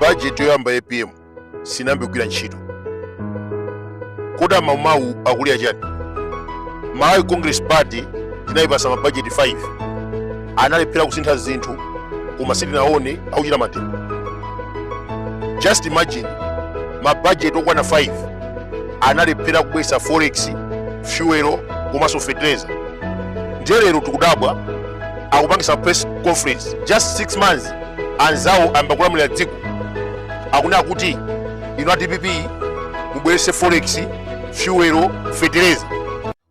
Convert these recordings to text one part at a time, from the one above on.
bajeti yoyamba ya apm sinayambe kugwira ntchito kodi amaumawu akulira chani malawi congress party tinayipasa mabajeti 5 analephera kusintha zinthu koma sitinaone akuchita mademo just imagine mabajeti okwana 5 analephera kubwesa forex fuel komanso fertilizer ndiye lero tikudabwa akupangisa press conference just 6 months anzawo ayamba kulamulira dziko akunena kuti inu a dpp mubwerese forex fuel fertilizer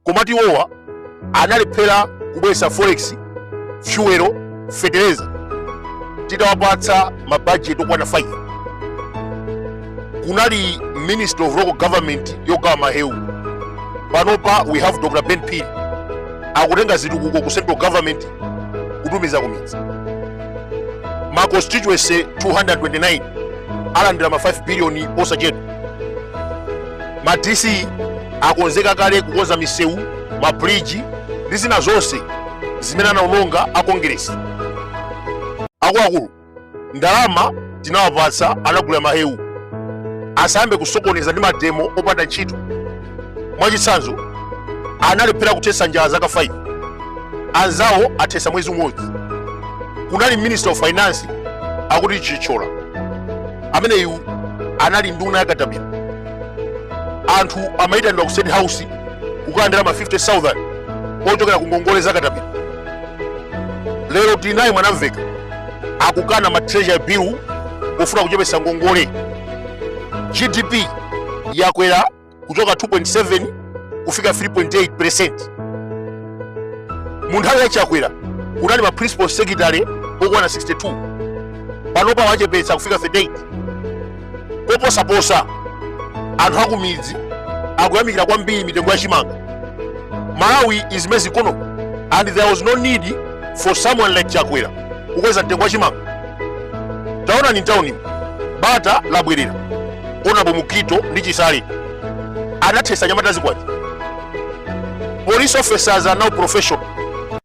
komatu iwowa analephera kubweresa forex fuel fertilizer titawapatsa mabajeti okwana 5 kunali minister of local government yogawa mahewu panopa we have dr ben phiri akutenga zitukuko ku central government kutumiza kumidzi ma constituency 229 alandira ma 5 billion osachedwa ma dc akonzeka kale kukonza misewu ma bridge ndi zina zonse zimene anaononga a congress akuluakulu ndalama tinawapatsa anagulira mahewu asayambe kusokoneza ndi mademo opanda ntchito mwachitsanzo analephera kuthetsa njala zaka 5 anzawo athetsa mwezi umodzi kunali minister of finance akuti chithyola ameneyu anali nduna yakatapila anthu amayitanidwa ku state house kukalandira ma 50000 ochokera ku ngongole zakatapila lero tili naye mwanamvekha akukana ma treasury bill pofuna kuchepetsa ngongole gdp yakwera kuchoka 2.7 kufika 3.8 percent mu nthawi ya chakwera kunali ma principal secretary okwana 62 panopa wachepetsa kufika 38 koposaposa anthu akumidzi akuyamikira kwambiri mitengo ya chimanga malawi is maize economy and there was no need for someone like chakwera kukweza mtengo wa chimanga taonani mtaunimu bata labwerera honourable mukhito ndi chisale anathesa anyamata azikwanje police officers are now professional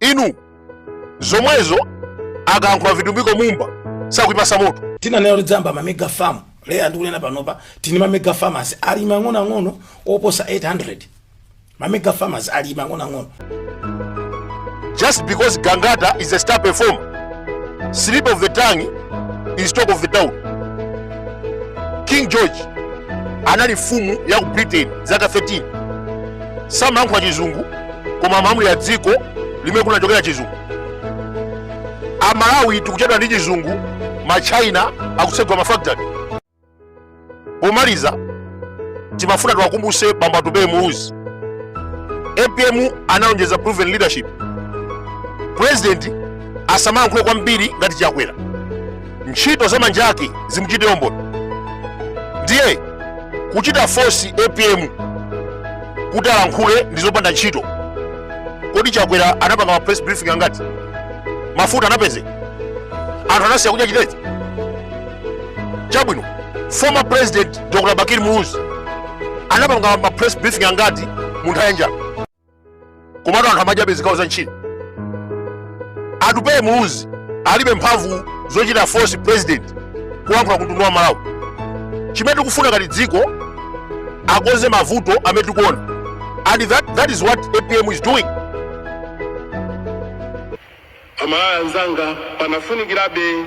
inu zomwezo akayankhula vitumbiko mumba sakuyipasa moto tinanena kuti tidzayamba mamega farm leya ndikunena panopa tili ndi mamega farmers alimi ang'onoang'ono oposa 800 mamega farmers alimi ang'onoang'ono just because gangata is a star performer slip of the tongue is talk of the town king george anali mfumu ya ku britain zaka 13 samayankhula chizungu koma malamulo a dziko limene kunachokera chizungu amalawi tikuchedwa ndi chizungu machina akutsegula mafactory pomaliza timafuna tiwakumbuse bambo atupele muluzi apm analonjeza proven leadership president asamayankhule kwambiri ngati chakwera ntchito za manja ake zimuchitire umboni ndiye kuchita force apm kuti alankhule ndi zopanda ntchito kodi chakwera anapanga ma press briefing angati mafuta anapeze anthu anasiya kudya chitedze chabwino former president dr bakili muluzi anapanga ma press briefing angati mu nthawi ya njala komatu anthu amadyabe zikawo za nchima atupele muluzi alibe mphamvu zochita force president kulankhula kumtundu wa malawi chimene tikufuna ngati dziko akonze mavuto amene tikuona and that is what apm is doing amalawi anzanga panafunikirabe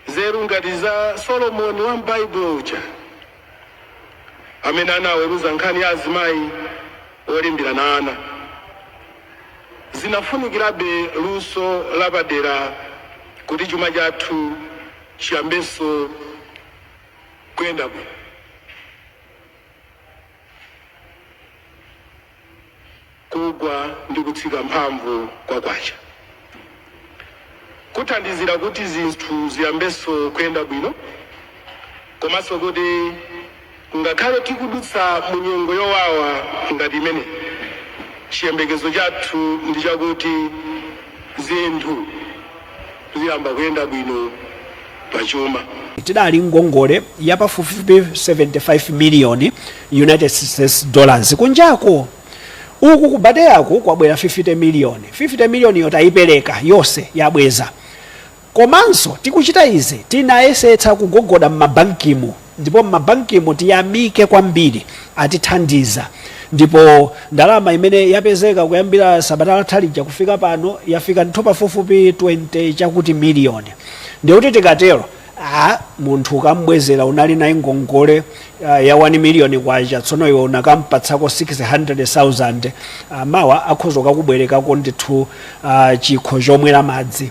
nzeru ngati za solomoni wa m'baibulo uja amene anaweruza nkhani ya azimayi olimbirana ana, zikufunikirabe luso lapadera kuti chuma chathu chiyambenso kuyenda bwino. Kugwa ndi kutsika mphamvu kwa kwacha kuthandizira kuti zinthu ziyambenso kuyenda bwino komanso kuti ngakhale tikudutsa mu nyengo yowawa ngati imene, chiyembekezo chathu ndi chakuti zinthu ziyamba kuyenda bwino pa chuma. Tidali ngongole ya pafupifupi 75 miliyoni United States Dollars kunjako. Uku ku PTA-ku kwabwera 50 million. 50 million yo tayipereka yose yabweza. Komanso tikuchita izi tinayesetsa kugogoda mma bankimu ndipo mma bankimu tiyamike kwambiri atithandiza ndipo ndalama imene yapezeka kuyambira sabata latha lija kufika pano yafika ndithu pafupifupi 20 chakuti million. Ndekuti tikatero. a munthu ukambwezera unali naye ngongole uh, ya 1 miliyoni kwacha tsono iwe unakampatsako 600000 uh, mawa akhoza kukubwerekako ndithu uh, chikho chomwera madzi